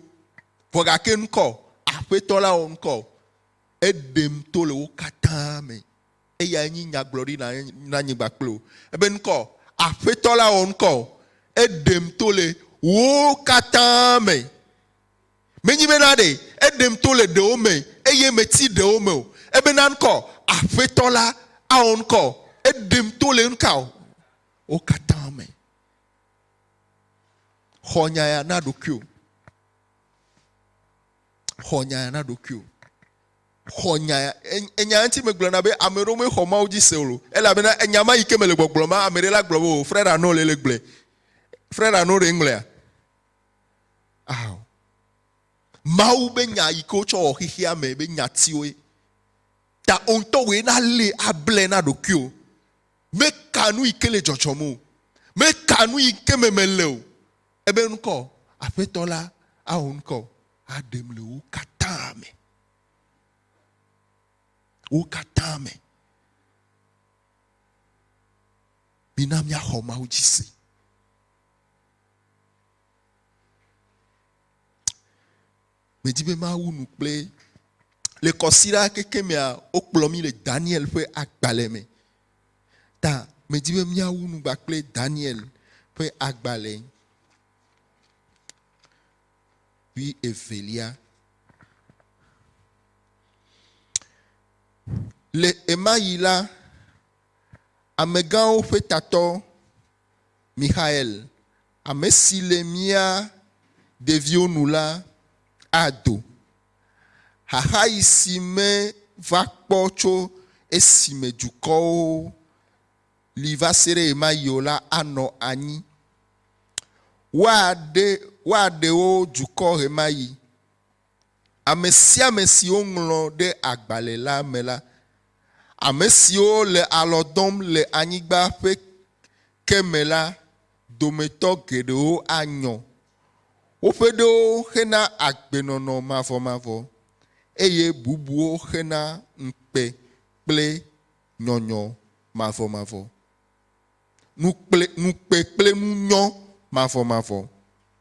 Vɔ gake nu ka o? Aƒetɔ la wɔ nu ka o? Eɖem to le wo katã me. Eyae nyi nyagblɔɖi na na nyigba kple wo. Ebe ŋkɔ, Aƒetɔ la wɔ ŋkɔ. Eɖem to le wo katã me. Menyi be na ɖe eɖem to le ɖewo me eye meti ɖewo me o. Ebe na ŋkɔ, Aƒetɔ la awɔ ŋkɔ. Eɖem to le ŋka o? Wo katã me. Xɔ nya ya na ɖokuiwò. xɔ nya ya na ɖokuiwò. Xɔ nya ya. Enya ya ŋuti megblɔna be ame ɖewo mexɔ Mawu dzi se o. Elabena enya ma yi ke mele gbɔgblɔ ma, ame ɖe la gblɔ be o, frère Arnaud le le gblɔe. Frère Arnaud ɖe ŋlɔea? Ao. Mawu be nya yi ke wotsɔ wɔ xexea me be nyatiwoe. Ta o ŋutɔ wɔe na le able na ɖokuiwò. Meka nu yi ke le dzɔdzɔm o. Meka nu yi ke me mele o. Ebe ŋkɔ, Aƒetɔ la awɔ ŋkɔ aɖem le wo katã me. Wo katã me. Mina míaxɔ Mawu dzi se. Medi be mawu nu kple le kɔsira keke mea wokplɔ mi le Daniel ƒe agbalẽ me. Ta medi be miawu nu kple Daniel ƒe agbalẽ wi evelia. Le ema yi la, amegãwo ƒe tatɔ Michael Ame si le mía ɖeviwo nu la ado. Xaxaɣi si meva kpɔ tso esime dukɔwo li va se ɖe ɣemaɣi o la anɔ anyi. Woaɖe woaɖe wo dukɔ ɣemaɣi. Ame sia ame si woŋlɔ ɖe agbalẽ la me la, ame siwo le alɔ dɔm le anyigba ƒe ke me la dometɔ geɖewo anyɔ. Woƒe ɖewo xena agbenɔnɔ mavɔmavɔ eye bubuwo xena ŋukpe kple nyɔnyɔ mavɔmavɔ. Nukple, ŋukpe kple nunyɔ mavɔmavɔ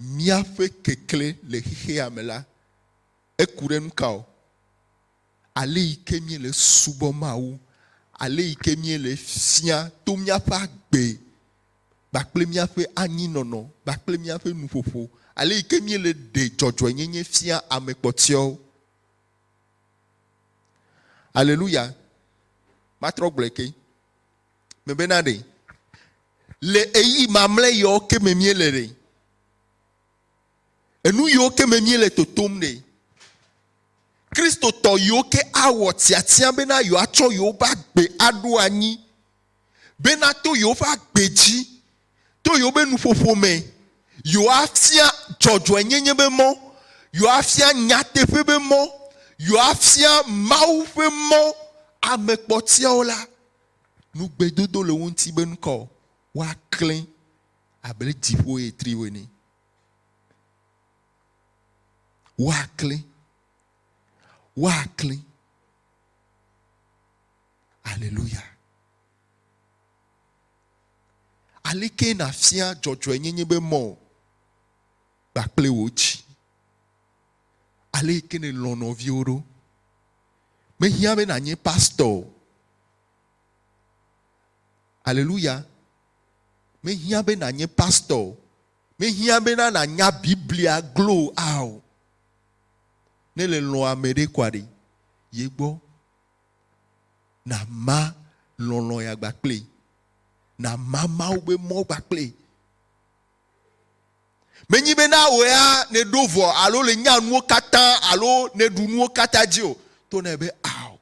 Míaƒe keklẽ le xexea me la, eku ɖe nu ka ŋu? Ale yi ke míele subɔm Mawu, ale yi ke míele fia to míaƒe agbe kpakple míaƒe anyinɔnɔ kpakple míaƒe nuƒoƒo, ale yi ke míele ɖe dzɔdzɔenyenye fia ame kpɔtɔewo. Aleluya! Matrɔ gblɔe ke. Mebena ɖe le eyi mamlɛ yewo ke me míele ɖe? Enu yewo ke me míele totom ɖe? Kristotɔ yewo ke awɔ tiatia bena yewoatsɔ yewoƒe agbe aɖo anyi bena to yewoƒe agbe dzi, to yewoƒe nuƒoƒo me, yewoafia dzɔdzɔenyenye be mɔ, yewoafia nyateƒe be mɔ, yewoafia Mawu ƒe mɔ ame kpɔtɔeawo la. Nu gbedodo le wo ŋuti be nu kaɔ? Woaklẽ abe dziƒo ɣetriwo ene. Woaklẽ. Woaklẽ. Aleluya. Aleke nàfia dzɔdzɔenyenye be mɔ kpakple wò dzi? Aleke nèlɔ̃ nɔviwo ɖo? Mehiã be nànyi pastɔ o. Aleluya. Mehiã be nànyi pastɔ o. Mehiã bena nànya Biblia glo a o. Ne le lɔ̃ ame ɖe kɔa ɖe ye gbɔ. Nàma lɔlɔ̃ ya gba kpli. Nàma Mawu be mɔ gba kpli. Menyi be na wò ya nèɖo vɔ alo le nya nuwo katã alo nèɖu nuwo katã dzi o. To nɛ be ao,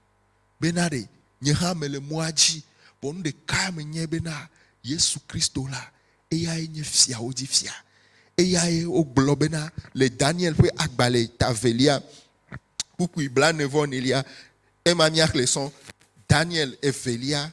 be na ɖe nye hã mele mɔa dzi, vɔ nu ɖekae menyae be na Yesu Kristo la, eyae nye fiawo dzi fia. Eyae wogblɔ be na le Daniel ƒe agbalẽ ta evelia, kpukpui blaene vɔ nelia. Ema míaxlẽ sɔ, Daniel evelia.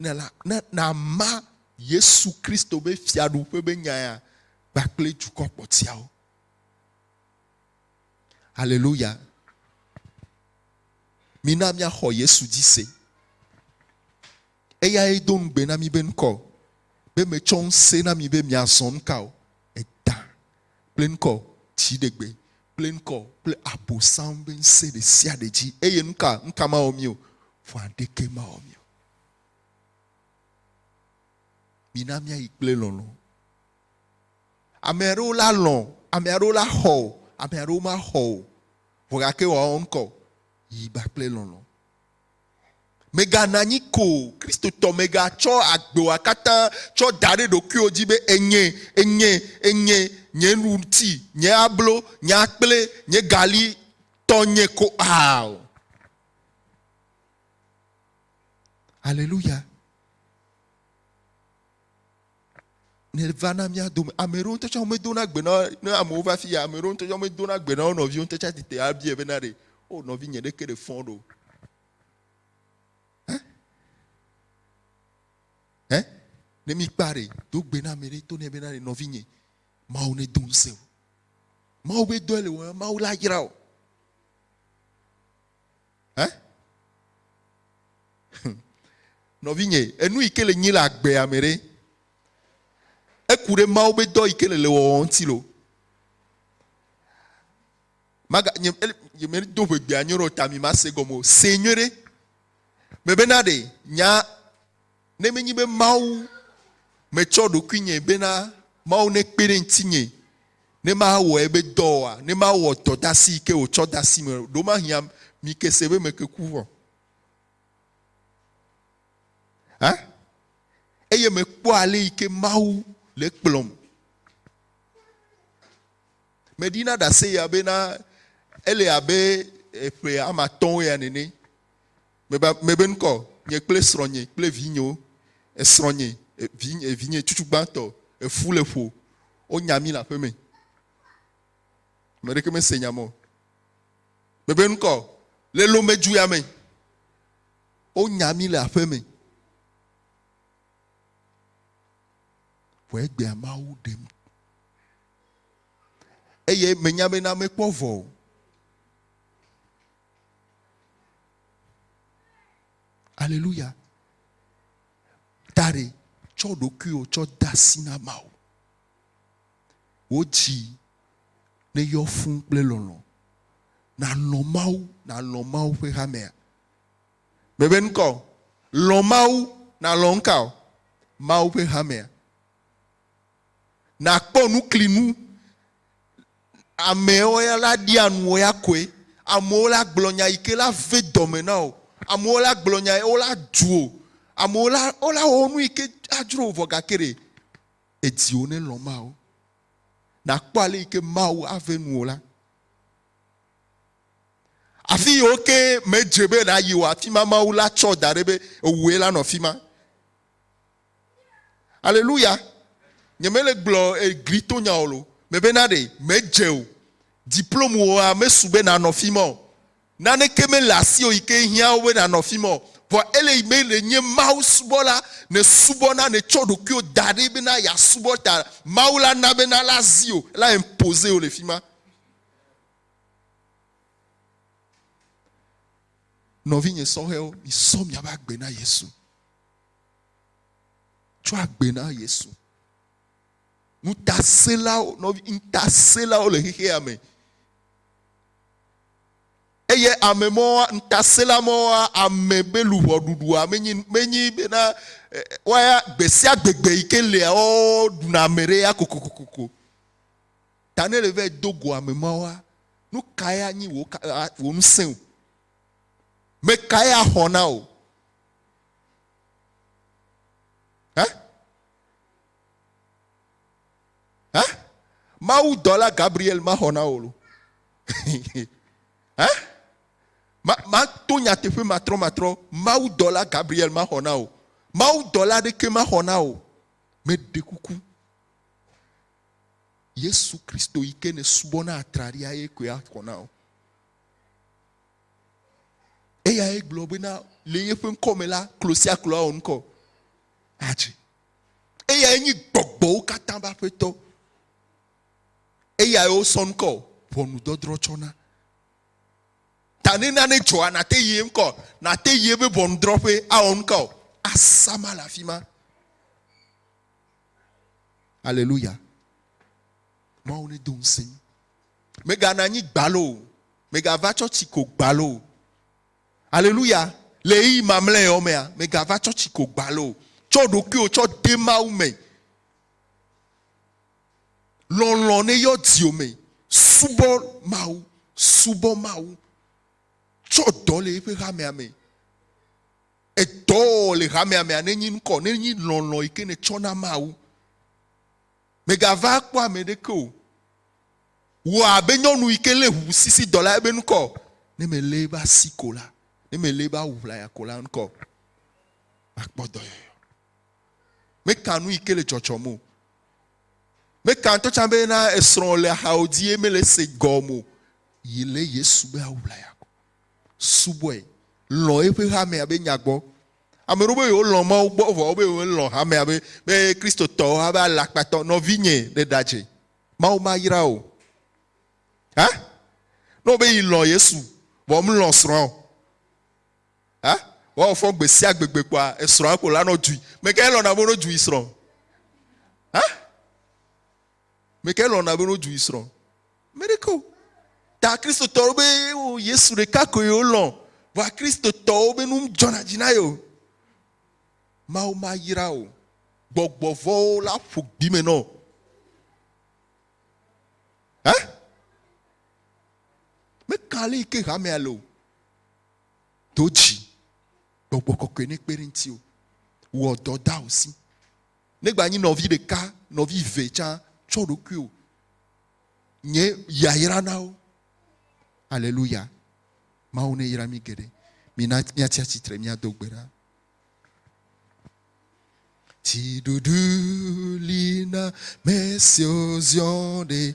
ne la ne nàma Yesu Kristo be fiaɖuƒe be nyaya kpakple dukɔ kpɔtiawo. Aleluya. Mina míaxɔ Yesu dzi se. Eyae do ŋugbe na mi be ŋkɔ be metsɔ ŋusẽ na mi be miazɔ nuka o. Edã kple ŋkɔ, dziɖegbe kple ŋkɔ, kple Abosam ƒe ŋusẽ ɖesiaɖe dzi. Eye nuka? Nuka mawɔ mí o? Vɔa ɖeke mawɔ mí o. Mina míayi kple lɔlɔ̃. Ame aɖewo la lɔ̃, ame aɖewo la xɔ o, ame aɖewo maxɔ o. Vɔ gake wòawɔ ŋkɔ? Yi ba kple lɔlɔ̃. Mègana anyi ko o. Kristotɔ, mègatsɔ agbewoa katã tsɔ da ɖe ɖokuiwò dzi be, Enyee, enyee, enyee, nye ŋuti, nye ablo, nye akple nye gali tɔnye ko aa o. Aleluya! nèva na mía dome. Ame ɖewo ŋutɔ tsɛ womedona gbe na ne amewo va fi ya. Ame ɖewo ŋutɔ tsɛ womedona gbe na wo nɔviwo ŋutɔ tsɛ ati te abiae bena ɖe o oh, nɔvi nye ɖeke ɖe fɔ ɖo. Hɛ? Hɛ? Ne mikpa ɖe do gbe na ame ɖe to nɛ bena ɖe nɔvi nye Mawu ne do ŋusẽ o. Mawu be dɔe le wɔm, Mawu la yra o. Eh? Nɔvinye, enu yi ke le nyi le agbea me ɖe, eku ɖe Mawu be dɔ yi ke le le wɔwɔ ŋuti lo. Maga nye nye me do ʋegbea nyuie ɖe o ta mi ma se gɔme o. Se nyuie ɖe. Mebena ɖe nya Ne menye be Mawu metsɔ ɖokuinye bena Mawu nekpe ɖe ŋutinye ne mawɔ ebe dɔ oa, ne mawɔ dɔ de asi yi ke wòtsɔ de asi me, ɖewomahiã mi ke se be meke ku vɔ. Hã? Eye mekpɔa ale yi ke Mawu le kplɔm. Meɖina ɖase ya bena ele abe eƒe amatɔ̃wo ya nene. Meba, mebe ŋkɔ, nye kple srɔ̃nye kple vinyewo. Esrɔ̃nye, vinye, vinye tsutsu gbãtɔ, efu le ƒo. Wonya mí le aƒeme. Ame ɖeke mese nya mɔ. Mebe ŋkɔ, le lomejuya me. Wonya mí le aƒeme. Vɔ egbea Mawu ɖem. Eye menya be na mekpɔ vɔ o. Aleluya. Dare, tsɔ ɖokuiwò tsɔ de asi na Mawu. Wò dzi neyɔ fũ kple lɔlɔ̃. Nàlɔ̃ Mawu, nàlɔ̃ Mawu ƒe hamea. Mebe nu ka o. Lɔ̃ Mawu, nàlɔ̃ nu ka o. Mawu ƒe hamea. Nakpɔ nuklinu. Amewo ya la ɖia nu wò ya koe. Amewo la gblɔ nya yi ke la ve dɔme na wò. Amewo la gblɔ nya ye wo la du wò. Amewo la wo la wɔ nu yi ke adzro wò vɔ gake ɖe èdi wo ne lɔ̃ Mawu. Nakpɔ ale yi ke Mawu ave nu wò la. Afi yiwo ke medze be nàyi o afi ma Mawu la tsɔ da ɖe be ewòe la nɔ afi ma. Aleluya! Nyemele gblɔ egli to nya ɔlo. Mebe na ɖe medze o. Diplome woa mesu be nanɔ fi ma o. Naneke mele asi o yike hiã wo be nanɔ fi ma o. Vɔ ele yi be ne nye Mawu subɔla, ne subɔ na ne tsɔ ɖokuiwo da ɖi be na ya subɔ ta Mawu la na be na la zi o, la imposer o le fi ma. Nɔvi nye sɔhɛwo, mi sɔ mia be agbe na Yesu. Tsɔ agbe na Yesu. Ŋutasẽlawo, nɔvi, ŋutasẽlawo le xexea me. Eye ame mɔwa, ŋutasẽla mɔwa, ame be luʋɔ ɖuɖua menyi, menyi bena eh, waya gbe sia gbegbe yi ke lia woɖuna ame ɖe ya kokokokoko. Ta ne le vɛ do go ame mawa, nu ka ya nyi wò ŋusẽ o? Me ka ya xɔ na o? Hã? Hã? Mawu dɔla Gabriel maxɔ na wò lo. Hã? Ma, ma to nyateƒe matrɔ matrɔ. Mawu dɔla Gabriel maxɔ na wò. Mawu dɔla ɖeke maxɔ na wò. Meɖe kuku. Yesu Kristo yi ke ne subɔ na atraɖia ye koe axɔ na wò. Eyae gblɔ bena le yeƒe ŋkɔ me la, klo sia klo awɔ ŋkɔ adzi. Eyae nyi gbɔgbɔwo katã ƒe aƒetɔ. Eyae wosɔ ŋkɔ ʋɔnudɔdrɔ̃ tsɔ na. Ta ne nane dzɔa, nàte yi ye ŋkɔ, nàte yi eƒe ʋɔnudrɔ̃ƒe awɔ ŋkɔ asama le afi ma. Aleluya. Mawu nedo ŋusẽ mí. Megana anyi gbalo o. Megava tsɔ tsi ko gbalo o. Aleluya. Le ɣeyiɣi mamlɛawo mea, megava tsɔ tsi ko gbalo o. Tsɔ ɖokuiwò tsɔ de Mawu me. Lɔlɔ̃ ne yɔ dziwò me. Subɔ Mawu. Subɔ Mawu. Tsɔ dɔ le eƒe hamea me. Edɔ le hamea mea nenyi ŋkɔ, nenyi lɔlɔ̃ yi ke nètsɔ na Mawu. Mègava kpɔ ame ɖeke o. Wɔ abe nyɔnu yi ke lé ʋuʋusisidɔ la ebe ŋkɔ. Ne mèlé ebe asi ko la, ne mèlé ebe awu ʋlaya ko la ŋkɔ, makpɔ dɔyɔyɔ. Meka nu yi ke le dzɔdzɔm o. Meka ŋutɔ tsã be na esrɔ̃ le axawo dzi ye mele ese gɔm o. Yi lé Yesu be awu ʋlaya ko. Subɔe. Lɔ̃ eƒe hamea be nya gbɔ. Ame ɖewo be yewolɔ̃ Mawu gbɔ vɔ wobe yewolɔ̃ hamea be be Kristotɔwo ha be alakpatɔ nɔvinye ɖe ɖadze. Mawu mayra wò. Ha? Ne wòbe yi lɔ̃ Yesu vɔ melɔ̃ srɔ̃a o. Ha? Woawɔ fɔ gbe sia gbe gbe kpɔa esrɔ̃a ko lanɔ dui. Mekae lɔ̃na be wonɔ du yi srɔ̃? Ha? Me ke lɔ̃na be wodzu yi srɔ̃. Me ɖeke o. Ta Kristotɔwo be wo Yesu ɖeka koe wolɔ̃. Vɔa Kristotɔwo be nu dzɔna dzi na yewo. Mawu mayra wò gbɔgbɔ vɔ̃wo la ƒu gbi me nɔ. Hã? Meka ale yi ke hamea le o. Do dzi. Gbɔgbɔ kɔkɔe ne kpe ɖe ŋutiwò. Wɔ dɔ da wò si. Negba nyi nɔvi ɖeka, nɔvi ve tsã, tsɔ ɖokuiwo nye yayra na wo. Aleluya. Mawu ne yra mi geɖe. Mina miatsi atsitre miado gbe ɖa. Tsiɖuɖu li na me siwo ziɔ ɖe.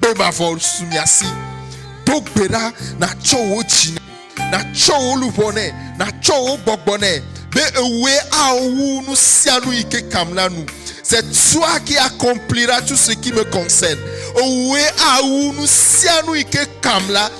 Kpe mavɔ su mia si. Do gbe ɖa natsɔ wò dzi nɛ, natsɔ wò luʋɔ nɛ, natsɔ wò gbɔgbɔ nɛ, be ewòe ao wu nu sia nu yi ke kam la nu. C'est toi qui accomplira tout ce qui me concerne. Ewòe ao wu nu sia nu yi ke kam la.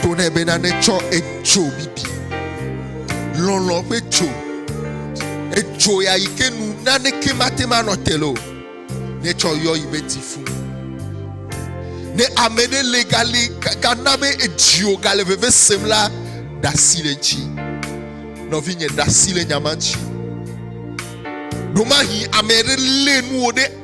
Gblɔ nɛ bena netsɔ edzo bibi, lɔlɔ̃ ƒe dzo, edzo ya yi ke nu naneke mate ŋu anɔ te le o, netsɔ yɔ yi me ti fu. Ne ame ɖe le gali gana be edzio gale veve sem la, ɖasi le dzi. Nɔvinye, ɖasi le nyama dzi. Ɖomahi ame ɖe lé nuwo ɖe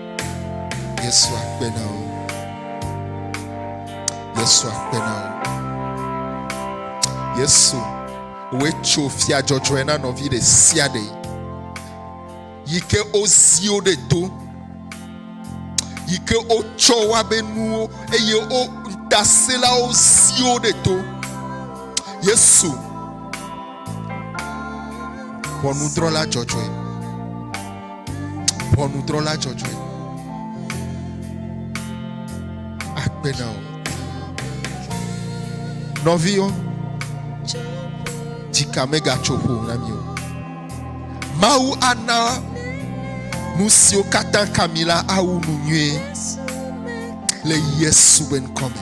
Yesu akpe na wo. Yesu akpe na wo. Yesu, wòe tso fia dzɔdzɔe na nɔvi ɖe sia ɖe yi ke wozi wo ɖe to, yi ke wotsɔ woa be nuwo eye wo ŋutasẽlawo zi wo ɖe to. Yesu, ʋɔnudrɔ̃la dzɔdzɔe. ʋɔnudrɔla dzɔdzɔe akpe na wò. Nɔviwo, dzika megatso ƒo na mi o. Mawu ana nu siwo katã ka mi la awu nu nyuie le Yesu be ŋkɔ me.